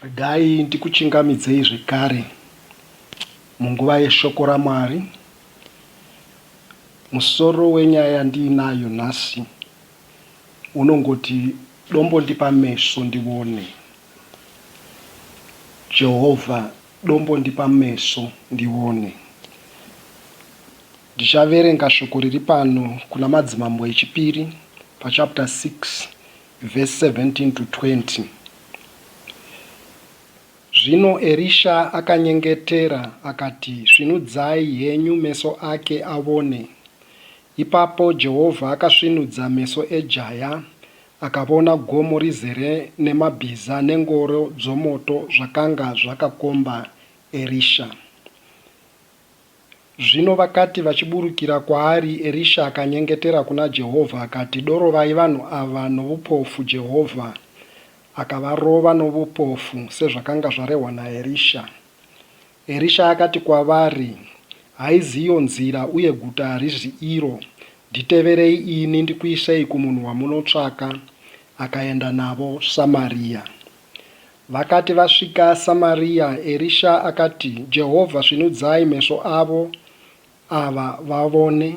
Regai ndikuchingamidzei zvekare munguva yeShoko raMwari. Musoro wenyaya yandiinayo nhasi unongoti Dombo Ndipa Meso Ndione. Jehovha, Dombo Ndipa Meso Ndione. Ndichaverenga shoko riri pano kuna Madzimambo eChipiri pachapter 6 Vhesi 17 to 20, Zvino Erisha akanyengetera, akati, Svinudzai henyu meso ake avone. Ipapo Jehovha akasvinudza meso ejaya, akavona gomo rizere nemabhiza nengoro dzomoto zvakanga zvakakomba Erisha. Zvino vakati vachiburukira kwaari, Erisha akanyengetera kuna Jehovha akati, Dorovai vanhu ava noupofu. Jehovha akavarova noupofu, sezvakanga zvarehwa naErisha. Erisha akati kwavari, Haizi iyo nzira, uye guta harizi iro. Nditeverei ini, ndikuisei kumunhu wamunotsvaka. Akaenda navo Samaria. Vakati vasvika Samaria, Erisha akati, Jehovha, svinudzai meso avo ava vavone.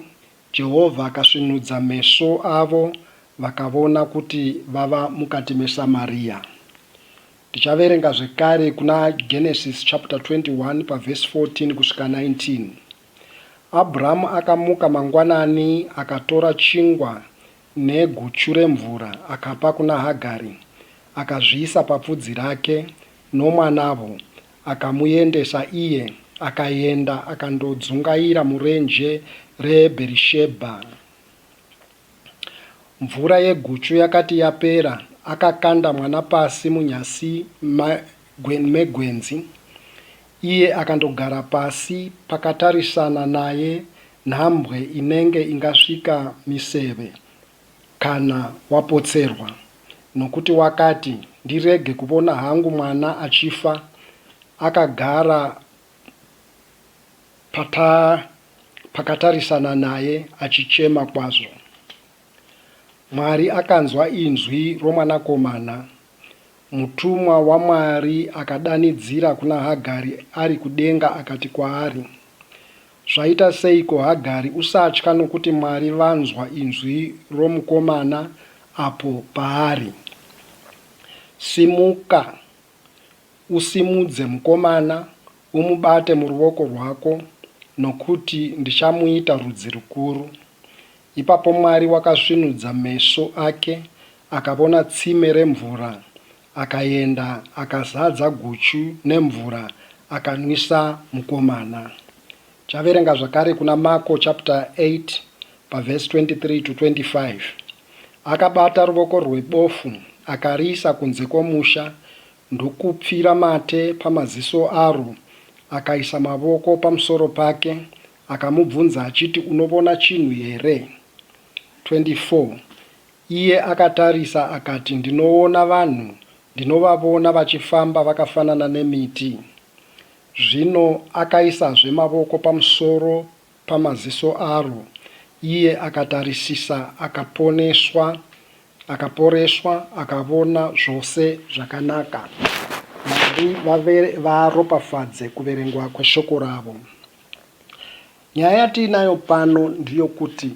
Jehovha akasvinudza meso avo, vakavona kuti vava mukati meSamaria. Tichaverenga zvekare kuna Genesis chapter 21 paverse 14 kusvika 19. Abramu akamuka mangwanani, akatora chingwa neguchu remvura akapa kuna Hagari, akazviisa papfudzi rake nomwanavo, akamuendesa iye akaenda akandodzungaira murenje reBherishebha. Mvura yeguchu yakati yapera, akakanda mwana pasi munyasi megwenzi. Iye akandogara pasi pakatarisana naye nhambwe inenge ingasvika miseve kana wapotserwa nokuti wakati ndirege kuvona hangu mwana achifa akagara pata pakatarisana naye achichema kwazvo. Mwari akanzwa inzwi romwanakomana Mutumwa waMwari akadanidzira kuna Hagari ari kudenga akati kwaari, Zvaita seiko Hagari, usatya nokuti Mwari vanzwa inzwi romukomana apo paari. Simuka, usimudze mukomana, umubate muruoko rwako, nokuti ndichamuita rudzi rukuru. Ipapo Mwari wakasvinudza meso ake, akavona tsime remvura, akaenda, akazadza guchu nemvura, akanwisa mukomana. Chaverenga zvakare kuna Mako chapter 8 paverse 23 to 25. Akabata ruvoko rwebofu, akariisa kunze kwomusha, ndokupfira mate pamaziso aro, akaisa mavoko pamusoro pake, Akamubvunza achiti, Unovona chinhu here? 24 Iye akatarisa akati, Ndinovona vanhu, ndinovavona vachifamba vakafanana nemiti. Zvino akaisazve mavoko pamusoro pamaziso aro, iye akatarisisa, akaponeswa, akaporeswa, akavona zvose zvakanaka. Mwari varopafadze kuverengwa kweshoko ravo. Nyaya yatiinayo pano ndiyokuti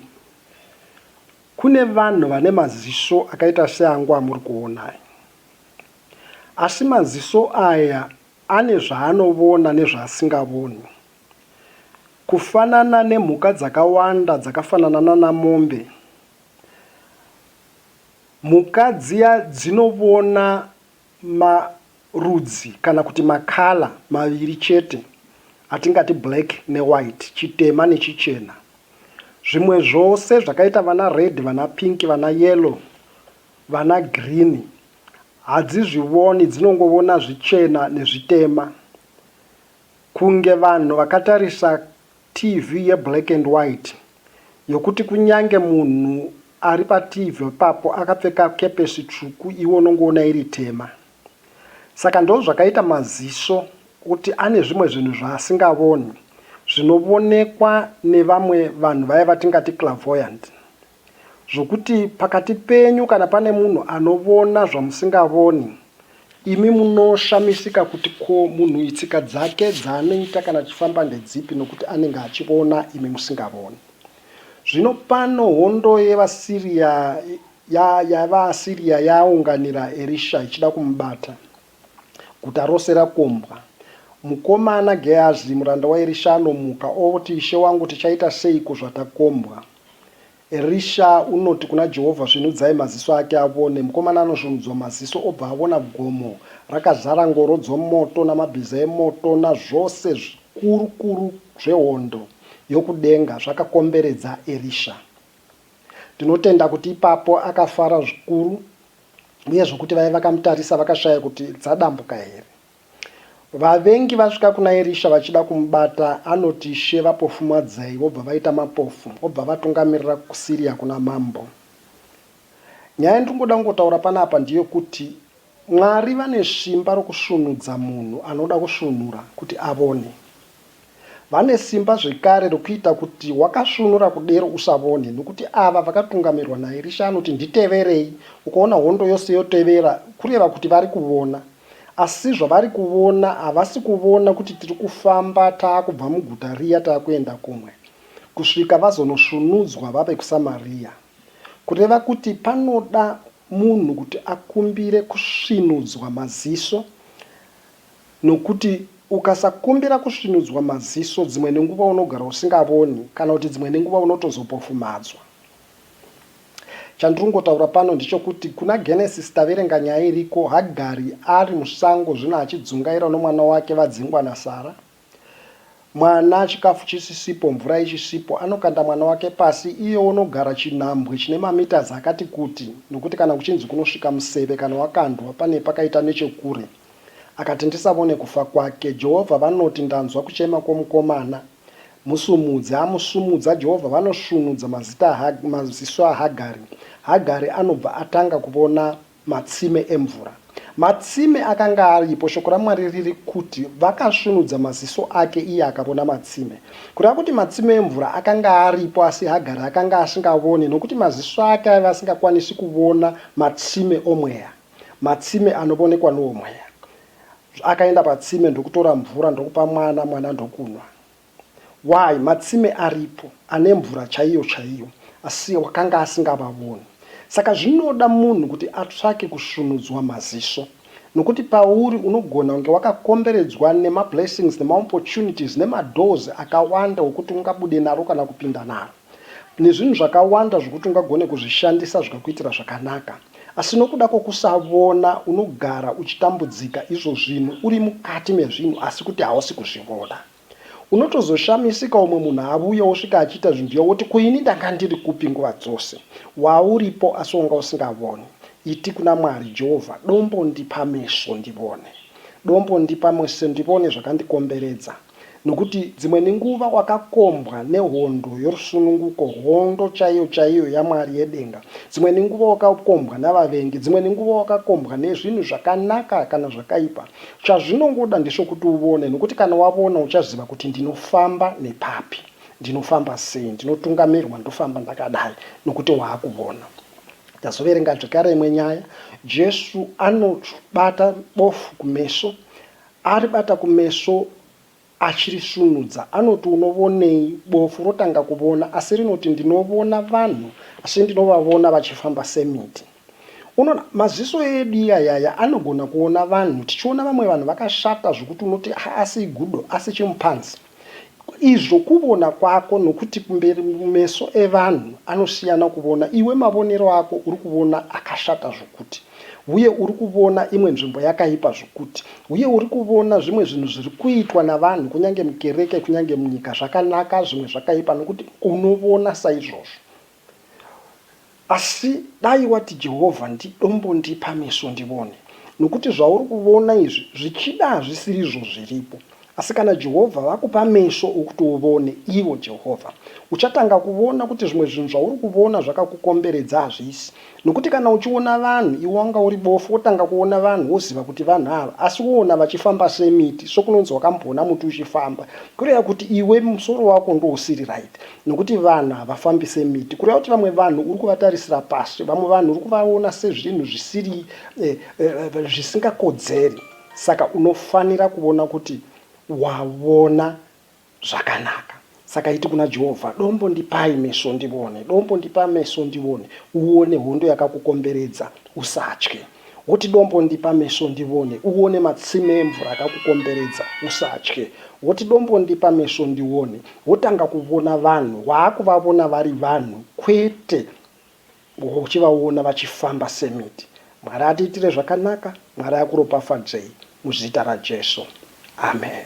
kune vanhu vane maziso akaita seangu amuri kuona aya. Asi maziso aya ane zvaanovona nezvaasingavoni. Kufanana nemhuka dzakawanda dzakafanana nanamombe, mhuka dziya dzinovona marudzi kana kuti makala maviri chete atingati black newhite, chitema nechichena. Zvimwe zvose zvakaita vana red, vana pink, vana yellow, vana green hadzizvivoni dzinongovona zvichena nezvitema kunge vanhu vakatarisa TV ye black and white yokuti kunyange munhu ari pa TV ipapo akapfeka kepesi tsvuku iwe unongoona iri tema. Saka ndozvakaita maziso kuti ane zvimwe zvinhu zvaasingavoni zvinovonekwa nevamwe vanhu vaya vatingati clavoyant. Zvokuti pakati penyu kana pane munhu anovona zvamusingavoni, imi munoshamisika kuti ko munhuyu tsika dzake dzaanoita kana achifamba ndedzipi nokuti anenge achivona imi musingavoni. Zvino pano hondo yevaSiriya ya, yavaAsiriya yaunganira Erisha ichida kumubata. Guta rose rakombwa. Mukomana Gehazi muranda waErisha anomuka, oti, Ishe wangu, tichaita seiko zvatakombwa? Erisha unoti kuna Jehovha, Svinudzai maziso ake avone. Mukomana anosvinudzwa maziso obva avona gomo rakazara ngoro dzomoto namabhiza emoto nazvose zvikurukuru zvehondo yokudenga zvakakomberedza Erisha. Tinotenda kuti ipapo akafara zvikuru uye zvokuti vaye vakamutarisa vakashaya kuti dzadambuka here. Vavengi vasvika kuna Erisha vachida kumubata, anoti, Ishe, vapofumadzei. Vobva vaita mapofu, obva avatungamirira kuSiria kuna mambo. Nyaya yandiri kungoda kungotaura panapa ndeyokuti Mwari vane svimba rokusvunudza munhu anoda kusvunura kuti avone. Vane simba zvekare rokuita kuti wakasvunura kudero usavone, nokuti ava vakatungamirwa naErisha anoti, Nditeverei, ukaona hondo yose yotevera, kureva kuti vari kuvona. Asi zvavari kuvona, havasi kuvona kuti tiri kufamba taakubva muguta riya taakuenda kumwe, kusvika vazonosvunudzwa vave kuSamariya. Kureva kuti panoda munhu kuti akumbire kusvinudzwa maziso. Nokuti ukasakumbira kusvinudzwa maziso dzimwe nenguva unogara usingavoni kana kuti dzimwe nenguva unotozopofumadzwa. Chandiringotaura pano ndichokuti kuna Genesis taverenga nyaya iriko Hagari ari musango zvino achidzungaira nomwana wake vadzingwa naSara. Mwana chikafu chisisipo mvura ichisipo anokanda mwana wake pasi iye onogara chinhambwe chine mametres akati kuti nokuti kana kuchinzi kunosvika museve kana wakandwa pane pakaita nechekure. Akati ndisavone kufa kwake. Jehovha vanoti ndanzwa kuchema kwomukomana. Musumudze. Amusumudza Jehovha vanosvunudza mazita maziso aHagari. Hagari anobva atanga kuvona. Matsime emvura. Matsime akanga aripo, Shoko raMwari riri kuti, Vakasvunudza maziso ake, iye akavona matsime. Kureva kuti matsime emvura akanga aripo, asi Hagari akanga asingavone, nokuti maziso ake aiva asingakwanisi kuvona matsime omweya, matsime anovonekwa nowoMweya. Akaenda patsime ndokutora mvura ndokupa mwana, mwana ndokunwa. Why matsime aripo ane mvura chaiyo chaiyo asi wakanga asingavaoni. Saka zvinoda munhu kuti atsvake kusvunudzwa maziso nokuti pauri unogona kunge wakakomberedzwa nema blessings nema opportunities nema doors akawanda okuti ungabude naro kana kupinda naro nezvinhu zvakawanda zvokuti ungagone kuzvishandisa zvikakuitira zvakanaka asi nokuda kwokusavona unogara uchitambudzika izvo zvinhu uri mukati mezvinhu asi kuti hausi kuzvivona. Unotozoshamisika umwe munhu avuya osvika achiita zvinhu zviya woti ko ini ndanga ndiri kupi nguva dzose. Wauripo asi wanga usingavoni. Iti kuna Mwari, Jehovha, dombo ndipa meso ndivone. Dombo ndipa meso ndivone zvakandikomberedza. Nokuti dzimwe nenguva wakakombwa nehondo yorusununguko, hondo chaiyo chaiyo yaMwari yedenga. Dzimwe nenguva wakakombwa navavengi. Dzimwe nenguva wakakombwa nezvinhu zvakanaka kana zvakaipa. Chazvinongoda ndesvokuti uvone nokuti kana wavona uchaziva kuti ndinofamba nepapi, ndinofamba sei, ndinotungamirwa ndofamba ndakadai nokuti waakuvona. Tazoverenga zvekare imwe nyaya, Jesu anobata bofu kumeso, aribata kumeso Achirisvunudza anoti unovonei? Bofu rotanga kuvona asi rinoti ndinovona vanhu asi ndinovavona vachifamba semiti. Unoona, maziso edu iyayaya anogona kuona vanhu, tichiona vamwe vanhu vakashata zvokuti unoti haasi igudo asi chimupanzi. Izvo kuvona kwako nokuti kumberi meso evanhu anosiyana kuvona, iwe mavonero ako uri kuvona akashata zvokuti. Uye uri kuvona imwe nzvimbo yakaipa zvokuti. Uye uri kuvona zvimwe zvinhu zviri kuitwa navanhu, kunyange mukereke, kunyange munyika, zvakanaka, zvimwe zvakaipa, nokuti unovona saizvozvo. Asi dai wati, Jehovha, ndidombondipa meso ndivone. Nokuti zvauri kuvona izvi, zvichida hazvisirizvo zviripo. Asi kana Jehovha vakupa meso okuti uvone, ivo, Jehovha, uchatanga kuvona kuti zvimwe zvinhu zvauri kuvona zvakakukomberedza hazvisi. Nokuti kana uchivona vanhu, iwe wanga uri bofu, wotanga kuvona vanhu, woziva kuti vanhu ava, asi wovona vachifamba semiti, sokunonzi wakambovona muti uchifamba, kureva kuti iwe musoro wako ndousiri right. Nokuti vanhu havafambi semiti. Kureva kuti vamwe vanhu uri kuvatarisira pasi. Vamwe vanhu uri kuvavona sezvinhu zvisiri, eh, eh, zvisingakodzeri. Saka unofanira kuvona kuti wavona zvakanaka. Saka iti kuna Jehovha, Dombo ndipai meso ndivone, Dombo ndipa meso ndivone, uvone hondo yakakukomberedza, usatye. Woti, Dombo ndipa meso ndivone, uvone matsime emvura akakukomberedza, usatye. Woti, Dombo ndipa meso ndivone, wotanga kuvona vanhu, waakuvavona vari vanhu kwete Gogo uchivaona vachifamba semiti Mwari atiitire zvakanaka Mwari akuropafadzei muzita raJesu Amen.